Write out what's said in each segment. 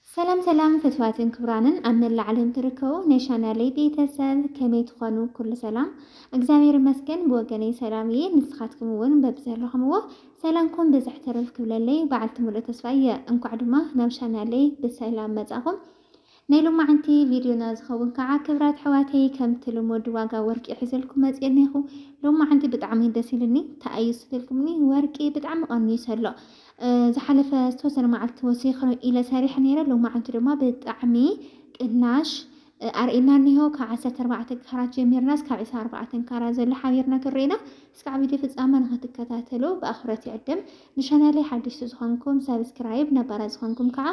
ሰላም ሰላም ፍትዋትን ክብራንን ኣብ መላእ ዓለም ትርከቡ ናይ ቻናለይ ቤተሰብ ከመይ ትኾኑ? ኩሉ ሰላም እግዚኣብሔር ይመስገን ብወገነይ ሰላም እየ። ንስኻትኩም እውን በብዘለኹምዎ ሰላምኩም ብዝሕ ትርፍ ክብለለይ በዓልቲ ሙሉእ ተስፋ እየ። እንኳዕ ድማ ናብ ቻናለይ ብሰላም መጻኹም። ናይ ሎማዓንቲ ቪድዮና ዝከውን ካዓ ክብራት ኣሕዋተይ ከምቲ ልሙድ ዋጋ ወርቂ ሒዘልኩም መፅየ እኒሀኩ ሎማዓንቲ ብጣዕሚ ደስ ኢሉኒ ታኣዩ ስልኩምኒ ወርቂ ብጣዕሚ ቀኒሱ ኣሎ ዝሓለፈ ዝተወሰነ ማዓልቲ ወሲከ ኢለ ሰሪሐ ነይረ ሎማዓንቲ ድማ ብጣዕሚ ቅናሽ ኣርእና እኒሆ ካብ ዓሰርተ ኣርባዕተ ካራት ጀሚርና እስካብ ዕስራ ኣርባዕተ ካራት ዘሎ ሓቢርና ክንርኢ ኢና እስካዕ ቪድዮ ፍፃመ ንክትከታተሉ ብኣክብሮት ይዕድም ንቻናለይ ሓደሽቲ ዝኮንኩም ሳብስክራይብ ነባራት ዝኮንኩም ካዓ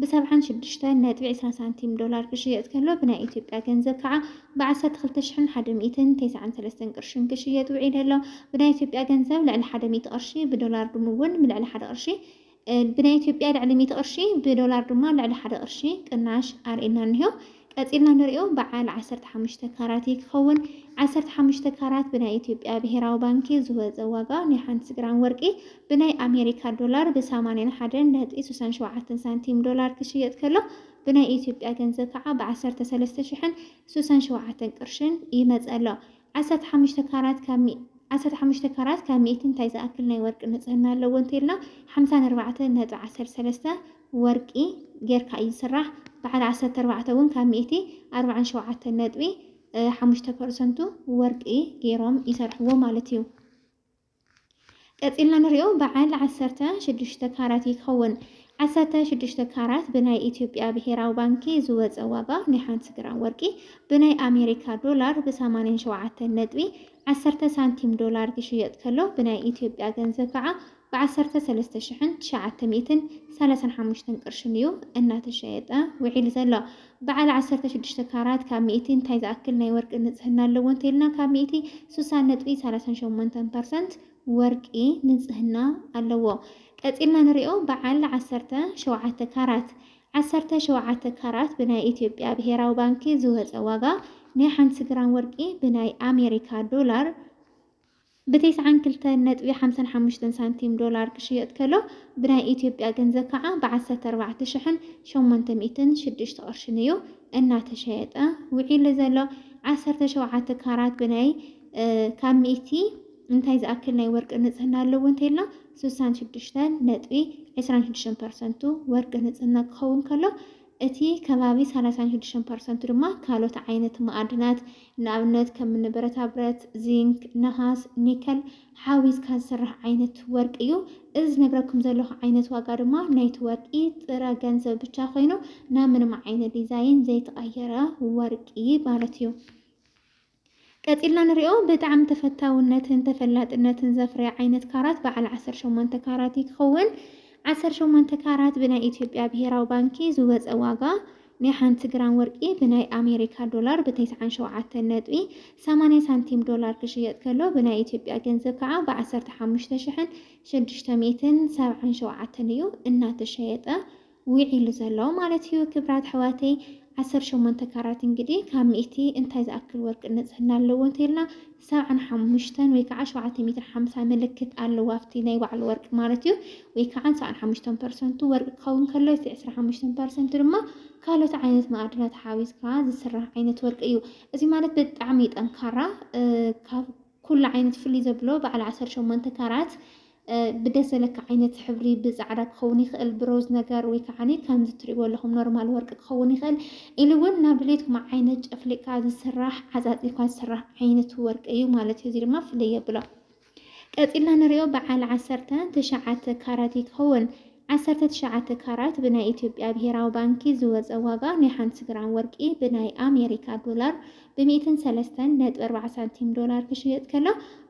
ብ ሰብዓን ሽዱሽተን ነጥቢ ዕስራ ሳንቲም ዶላር ክሽየጥ ከሎ ብናይ ኢትዮጵያ ገንዘብ ከዓ ብ ዓሰርተ ክልተ ሽሕን ሓደ ሚእትን ቴስዓን ሰለስተን ቅርሽን ክሽየጥ ውዒሉ ኣሎ። ብናይ ኢትዮጵያ ገንዘብ ልዕሊ ሓደ ሚእቲ ቅርሺ ብዶላር ድሙ እውን ልዕሊ ሓደ ቅርሺ ብናይ ኢትዮጵያ ልዕሊ ሚእቲ ቅርሺ ብዶላር ድማ ልዕሊ ሓደ ቅርሺ ቅናሽ ኣርእዩና እኒሆ። ቀጺልና ንሪኦ በዓል ዓሰርተ ሓሙሽተ ካራት እዪ ክኸውን። ዓሰርተ ሓሙሽተ ካራት ብናይ ኢትዮጵያ ብሄራዊ ባንኪ ዝወጸ ዋጋ ናይ ሓንቲ ግራም ወርቂ ብናይ ኣሜሪካ ዶላር ብ ሰማንያን ሓደን ነጥቢ ስሳን ሸውዓተን ሳንቲም ዶላር ክሽየጥ ከሎ ብናይ ኢትዮጵያ ገንዘብ ከዓ ብ ዓሰርተ ሰለስተ ሽሕን ስሳን ሸውዓተን ቅርሽን ይመጽእ ኣሎ። ዓሰርተ ሓሙሽተ ካራት ካብ ዓሰርተ ሓሙሽተ ካራት ካብ ሚእቲ እንታይ ዝኣክል ናይ ወርቂ ንጽህና ኣለዎ እንተይልና ሓምሳን ኣርባዕተን ነጥቢ ዓሰርተ ሰለስተ ወርቂ ጌርካ እዩ ዝስራሕ። በዓል ዓሰርተ ኣርባዕተ እውን ካብ ሚእቲ ኣርብዓን ሸውዓተን ነጥቢ ሓሙሽተ ፐርሰንቱ ወርቂ ጌሮም ይሰርሕዎ ማለት እዩ። ቀጺልና ንሪኦ በዓል ዓሰርተ ሽዱሽተ ካራት እዩ ክኸውን። ዓሰርተ ሽዱሽተ ካራት ብናይ ኢትዮጵያ ብሄራዊ ባንኪ ዝወፀ ዋጋ ናይ ሓንቲ ግራም ወርቂ ብናይ ኣሜሪካ ዶላር ብሰማንያን ሸውዓተን ነጥቢ ዓሰርተ ሳንቲም ዶላር ክሽየጥ ከሎ ብናይ ኢትዮጵያ ገንዘብ ከዓ ብዓሰርተ ሰለስተ ሽሕን ትሽዓተ ሚእትን ሰላሳን ሓሙሽተን ቅርሽን እዩ እናተሸየጠ ውዒሉ ዘሎ። በዓል ዓሰርተ ሽዱሽተ ካራት ካብ ሚእቲ እንታይ ዝኣክል ናይ ወርቂ ንፅህና ኣለዎ እንተይልና ካብ ሚእቲ ስሳን ነጥቢ ሰላሳን ሸሞንተን ፐርሰንት ወርቂ ንፅህና ኣለዎ። ቀፂልና ንሪኦ በዓል ዓሰርተ ሸውዓተ ካራት። ዓሰርተ ሸውዓተ ካራት ብናይ ኢትዮጵያ ብሄራዊ ባንኪ ዝወፀ ዋጋ ናይ ሓንቲ ግራም ወርቂ ብናይ ኣሜሪካ ዶላር፣ ብ ተስዓን ክልተን ነጥቢ ሓምሳን ሓሙሽተን ሳንቲም ዶላር ክሽየጥ ከሎ ብናይ ኢትዮጵያ ገንዘብ ከዓ ብ ዓሰርተ ኣርባዕተ ሽሕን ሸሞንተ ሚእትን ሽዱሽተ ቅርሽን እዩ እናተሸየጠ ውዒሉ ዘሎ። ዓሰርተ ሸውዓተ ካራት ብናይ ካብ ሚእቲ እንታይ ዝኣክል ናይ ወርቂ ንፅህና ኣለዎ እንተይልና ስሳን ሽዱሽተን ነጥቢ ዕስራን ሽዱሽተን ፐርሰንቱ ወርቂ ንፅህና ክኸውን ከሎ እቲ ከባቢ ሰላሳን ሽዱሽተን ፐርሰንቱ ድማ ካልኦት ዓይነት መኣድናት፣ ንኣብነት ከምኒ ብረታብረት፣ ዚንክ፣ ነሃስ፣ ኒከል ሓዊስካ ዝስራሕ ዓይነት ወርቂ እዩ። እዚ ዝነግረኩም ዘለኹ ዓይነት ዋጋ ድማ ናይቲ ወርቂ ጥረ ገንዘብ ብቻ ኮይኑ ናብ ምንም ዓይነት ዲዛይን ዘይተቐየረ ወርቂ ማለት እዩ። ቀጺልና ንሪኦ ብጣዕሚ ተፈታውነትን ተፈላጥነትን ዘፍረየ ዓይነት ካራት በዓል ዓሰርተ ሸሞንተ ካራት እዩ ክኸውን። ዓሰርተ ሸሞንተ ካራት ብናይ ኢትዮጵያ ብሄራዊ ባንኪ ዝወፀ ዋጋ ናይ ሓንቲ ግራም ወርቂ ብናይ ኣሜሪካ ዶላር ብተስዓን ሸውዓተን ነጥቢ ሰማንያ ሳንቲም ዶላር ክሽየጥ ከሎ ብናይ ኢትዮጵያ ገንዘብ ከዓ ብዓሰርተ ሓሙሽተ ሽሕን ሽዱሽተ ሚእትን ሰብዓን ሸውዓተን እዩ እናተሸየጠ ዊዒሉ ዘሎ ማለት እዩ ክብራት ኣሕዋተይ ዓሰርተ ሸሞንተ ካራት እንግዲህ ካብ ሚእቲ እንታይ ዝኣክል ወርቂ ንጽህና ኣለዎ እንተይልና ሰብዓን ሓሙሽተን ወይ ከዓ ሸውዓተ ሚእትን ሓምሳ ምልክት ኣለዎ ኣብቲ ናይ ባዕሉ ወርቂ ማለት እዩ ወይ ከዓ ሰብዓን ሓሙሽተን ፐርሰንቱ ወርቂ ክኸውን ከሎ እቲ ዕስራ ሓሙሽተን ፐርሰንቱ ድማ ካልኦት ዓይነት ማዕድናት ሓዊዝካ ዝስራሕ ዓይነት ወርቂ እዩ እዚ ማለት ብጣዕሚ ጠንካራ ካብ ኩሉ ዓይነት ፍልይ ዘብሎ በዓል ዓሰርተ ሸሞንተ ካራት ብደስ ዘለካ ዓይነት ሕብሪ ብጻዕዳ ክኸውን ይኽእል ብሮዝ ነገር ወይ ከዓ ከምዚ ትሪእዎ ኣለኹም ኖርማል ወርቂ ክኸውን ይኽእል ኢሉ እውን ናብ ድሌትኩም ዓይነት ጨፍሊቕካ ዝስራሕ ዓፃፂልካ ዝስራሕ ዓይነት ወርቂ እዩ ማለት እዩ። እዚ ድማ ፍልይ የብሎ። ቀፂልና ንሪኦ በዓል ዓሰርተ ትሽዓተ ካራት ይኸውን። ዓሰርተ ትሽዓተ ካራት ብናይ ኢትዮጵያ ብሄራዊ ባንኪ ዝወፀ ዋጋ ናይ ሓንቲ ግራም ወርቂ ብናይ ኣሜሪካ ዶላር ብ ሚእትን ሰለስተን ነጥቢ ኣርባዓ ሳንቲም ዶላር ክሽየጥ ከሎ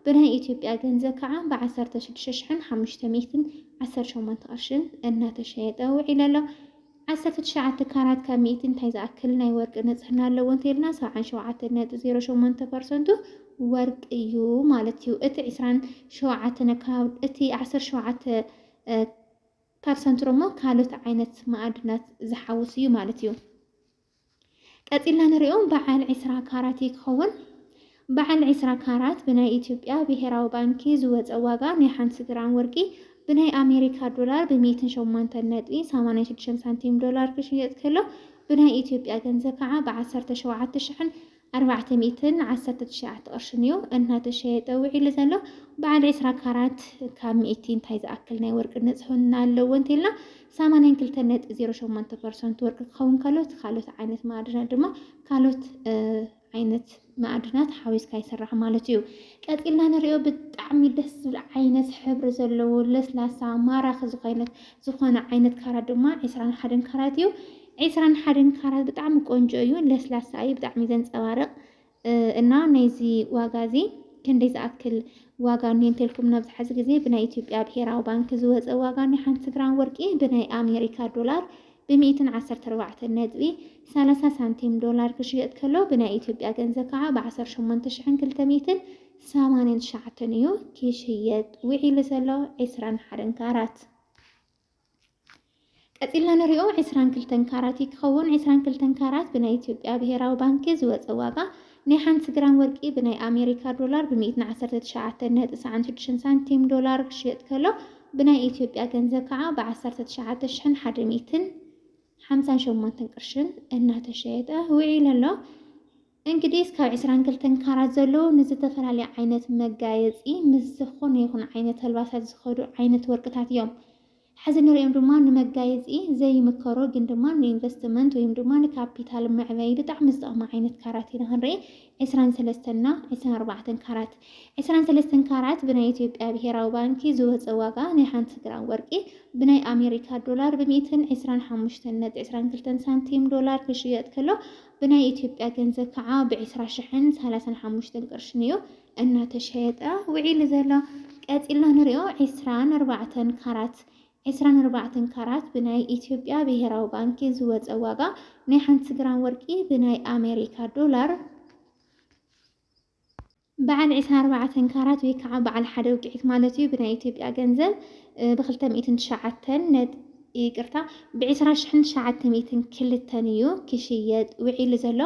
ብናይ ኢትዮጵያ ገንዘብ ከዓ ብ ዓሰርተ ሽዱሽተ ሽሕን ሓሙሽተ ሚእትን ዓሰርተ ሸሞንተ ቅርሽን እናተሸየጠ ውዒሉ ኣሎ። ዓሰርተ ትሽዓተ ካራት ካብ ሚእቲ እንታይ ዝኣክል ናይ ወርቂ ንፅህና ኣለዎ እንተይልና ሰብዓን ሸውዓተን ነጥቢ ዜሮ ሸሞንተ ፐርሰንቱ ወርቂ እዩ ማለት እዩ። እቲ ዕስራን ሸውዓተን ኣከባቢ እቲ ዓሰርተ ሸውዓተ ካብ ሰንትሮሞ ካልኦት ዓይነት መኣድናት ዝሓውስ እዩ ማለት እዩ። ቀጺልና ንሪኦ በዓል ዒስራ ካራት እዩ ክኸውን። በዓል ዒስራ ካራት ብናይ ኢትዮጵያ ብሄራዊ ባንኪ ዝወፀ ዋጋ ናይ ሓንቲ ግራም ወርቂ ብናይ ኣሜሪካ ዶላር ብሚእትን ሸሞንተን ነጥቢ ሰማንያን ሽዱሽተን ሳንቲም ዶላር ክሽየጥ ከሎ ብናይ ኢትዮጵያ ገንዘብ ከዓ ብዓሰርተ ሸውዓተ ሽሕን ኣርባዕተ ሚእትን ዓሰርተ ትሽዓተ ቅርሽን እዩ እናተሸየጠ ውዒሉ ዘሎ። በዓል ዕስራ ካራት ካብ ሚእቲ እንታይ ዝኣክል ናይ ወርቂ ንጽህና ኣለዎ እንተኢልና ሰማንያን ክልተን ነጥቢ ዜሮ ሸሞንተ ፐርሰንት ወርቂ ክኸውን ከሎ እቲ ካልኦት ዓይነት ማዕድናት ድማ ካልኦት ዓይነት ማዕድናት ሓዊስካ ይስራሕ ማለት እዩ። ቀፂልና ንሪኦ ብጣዕሚ ደስ ዝብል ዓይነት ሕብሪ ዘለዎ ለስላሳ ማራኺ ዝኾይነት ዝኾነ ዓይነት ካራት ድማ ዕስራን ሓደን ካራት እዩ። ዕስራን ሓደን ካራት ብጣዕሚ ቆንጆ እዩ፣ ለስላሳ እዩ፣ ብጣዕሚ እዩ ዘንፀባርቕ እና ናይዚ ዋጋ እዚ ክንደይ ዝኣክል ዋጋ እኒሀ እንተልኩም ናብዝሓ እዚ ግዜ ብናይ ኢትዮጵያ ብሄራዊ ባንኪ ዝወፀ ዋጋ ናይ ሓንቲ ግራም ወርቂ ብናይ ኣሜሪካ ዶላር ብሚእትን ዓሰርተ ኣርባዕተን ነጥቢ ሰላሳ ሳንቲም ዶላር ክሽየጥ ከሎ ብናይ ኢትዮጵያ ገንዘብ ከዓ ብዓሰርተ ሸሞንተ ሽሕን ክልተ ሚእትን ሰማንያን ትሽዓተን እዩ ክሽየጥ ውዒሉ ዘሎ ዕስራን ሓደን ካራት። ቀጺልና ንሪኦ ዕስራን ክልተን ካራት እዩ ክኸውን። ዕስራን ክልተን ካራት ብናይ ኢትዮጵያ ብሄራዊ ባንኪ ዝወፀ ዋጋ ናይ ሓንቲ ግራም ወርቂ ብናይ ኣሜሪካ ዶላር ብሚእትን ዓሰርተ ትሽዓተን ነጥቢ ሰዓን ሽዱሽተን ሳንቲም ዶላር ክሽየጥ ከሎ ብናይ ኢትዮጵያ ገንዘብ ከዓ ብዓሰርተ ትሽዓተ ሽሕን ሓደ ሚእትን ሓምሳን ሸሞንተን ቅርሽን እናተሸየጠ ውዒሉ ኣሎ። እንግዲህ ካብ ዕስራን ክልተን ካራት ዘለዉ ንዝተፈላለዩ ዓይነት መጋየፂ ምስ ዝኾነ ይኹን ዓይነት ኣልባሳት ዝኸዱ ዓይነት ወርቅታት እዮም። ሕዚ ንሪኦም ድማ ንመጋየፂ ዘይምከሩ ግን ድማ ንኢንቨስትመንት ወይም ድማ ንካፒታል መዕበይ ብጣዕሚ ዝጠቕሙ ዓይነት ካራት ኢና ክንርኢ ዕስራን ሰለስተን እና ዕስራን ኣርባዕተን ካራት ዕስራን ሰለስተን ካራት ብናይ ኢትዮጵያ ብሄራዊ ባንኪ ዝወፀ ዋጋ ናይ ሓንቲ ግራም ወርቂ ብናይ ኣሜሪካ ዶላር ብሚእትን ዕስራን ሓሙሽተን ነጥቢ ዕስራን ክልተን ሳንቲም ዶላር ክሽየጥ ከሎ ብናይ ኢትዮጵያ ገንዘብ ከዓ ብዕስራ ሽሕን ሰላሳን ሓሙሽተን ቅርሽን እዩ እናተሸየጠ ውዒሉ ዘሎ። ቀፂልና ንሪኦ ዕስራን ኣርባዕተን ካራት ዕስራን ኣርባዕተን ካራት ብናይ ኢትዮጵያ ብሄራዊ ባንኪ ዝወፀ ዋጋ ናይ ሓንቲ ግራም ወርቂ ብናይ ኣሜሪካ ዶላር በዓል ዕስራን ኣርባዕተን ካራት ወይ ከዓ በዓል ሓደ ውቅዒት ማለት እዩ ብናይ ኢትዮጵያ ገንዘብ ብክልተ ሚእትን ትሽዓተን ነጥ ይቅርታ ብዕስራ ሽሕን ትሽዓተ ሚእትን ክልተን እዩ ክሽየጥ ውዒሉ ዘሎ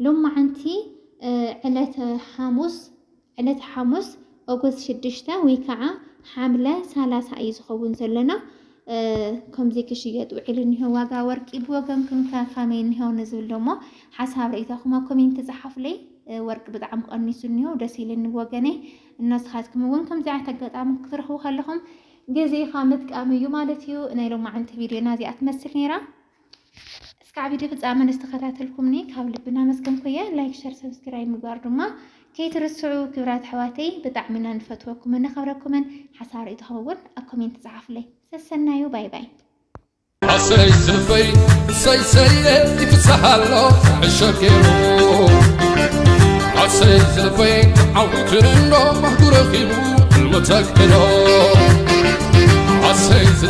ሎማዓንቲ ዕለተ ሓሙስ ዕለተ ሓሙስ ኦጎስት ሽዱሽተ ወይ ከዓ ሓምለ ሰላሳ እዩ ዝኸውን ዘሎና ከምዚ ክሽየጥ ውዒሉ እኒሆ ዋጋ ወርቂ ብወገንኩም ከ ከመይ እኒሆ ንዝብል ደሞ ሓሳብ ርእይታኹም ኣብ ኮሜንት ጸሓፉለይ። ወርቂ ብጣዕሚ ቀኒሱ እኒሆ ደስ ኢልኒ ወገነይ። እነስኻትኩም እውን ከምዚ ዓይነት ኣጋጣሚ ክትረኽቡ ከለኹም ግዜኻ ምጥቃም እዩ ማለት እዩ። ናይ ሎማዓንቲ ቪድዮና እዚኣ ትመስል ነይራ። እስካዕ ቪድዮ ፍፃመ ንዝተኸታተልኩምኒ ካብ ልቢ እናመስገንኩ እየ። ላይክ፣ ሸር፣ ሰብስክራይብ ምግባር ድማ ከይትርስዑ ክብራት ኣሕዋተይ። ብጣዕሚ ኢና ንፈትወኩምን ነኸብረኩምን። ሓሳብ ርእይቶኹም እውን ኣብ ኮሜንት ፀሓፉለይ። ሰሰናዩ ባይ ባይ። ኣሰይ ዝልበይ ሰይሰየ ይፍሳሃሎ ዕሸጌሩ ኣሰይ ዝልበይ ዓዊቱ እንዶ ማህጉረ ኺቡ እልወተክዶ ኣሰይ